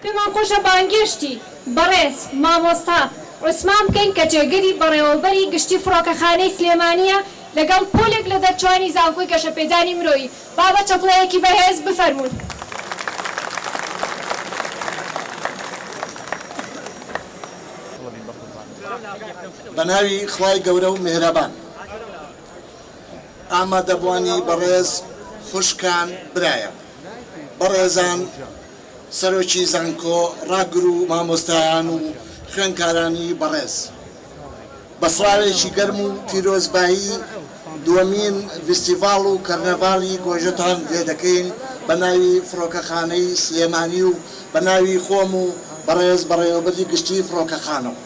پێمان خۆشە بانگێشتی بەڕێز مامۆستا عوسمان بکەین کە جێگری بەڕێوەبەری گشتی فڕۆکەخانەی سلێمانییە لەگەڵ پۆلێک لە دەرچوانی زانکۆی گەشەپێدانی مرۆیی. با بە چەپڵەیەکی بەهێز بفەرموون. بەناوی خوای گەورە و میهرەبان. ئامادەبوانی بەڕێز خوشکان برایان بەڕێزان سەرۆکی زانکۆ ڕاگر و مامۆستایان و خوێنکارانی بەڕێز بە سڵاوێکی گەرم و پیرۆزبایی دووەمین ڤیستیڤاڵ و کەرنەڤاڵی گۆژەتان لێ دەکەین بە ناوی فڕۆکەخانەی سلێمانی و بە ناوی خۆم و بەڕێز بەڕێوەبەری گشتی فڕۆکەخانەوە.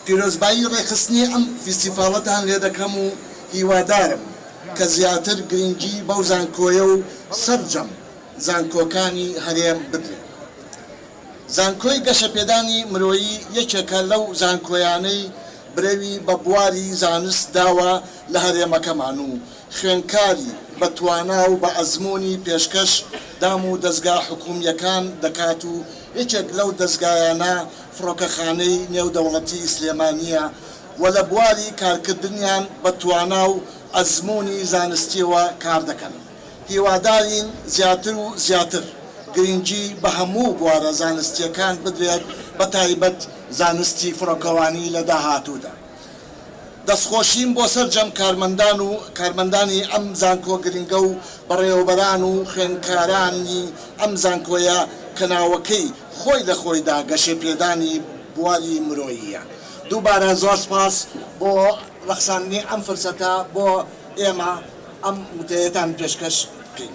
پیرۆزبایی ڕێکخستنی ئەم فیستیفاڵەتان لێ دەکەم و هیوادارم کە زیاتر گرنگی بەو زانکۆیە و سەرجەم زانکۆکانی هەرێم بدرێت. زانکۆی گەشەپێدانی مرۆیی یەکێکە لەو زانکۆیانەی برەوی بە بواری زانست داوە لە هەرێمەکەمان و خوێندکاری بە توانا و بە ئەزموونی پێشکەش دام و دەزگا حکوومییەکان دەکات و یەکێک لەو دەزگایانە فڕۆکەخانەی نێودەوڵەتیی سلێمانییە و لە بواری کارکردنیان بە توانا و ئەزموونی زانستییەوە کار دەکەن. هیوادارین زیاتر و زیاتر گرنگی بە هەموو بوارە زانستییەکان بدرێت، بەتایبەت زانستی فڕۆکەوانی لە داهاتوودا. دەستخۆشیم بۆ سەرجەم کارمەندان و کارمەندانی ئەم زانکۆ گرنگە و بەڕێوەبەران و خوێندکارانی ئەم زانکۆیە کە ناوەکەی خۆی لە خۆیدا گەشەپێدانی بواری مرۆییە دووبارە زۆر سپاس بۆ ڕەخساندنی ئەم فرسەتە بۆ ئێمە ئەم وتەیەتان پێشکەش بکەین.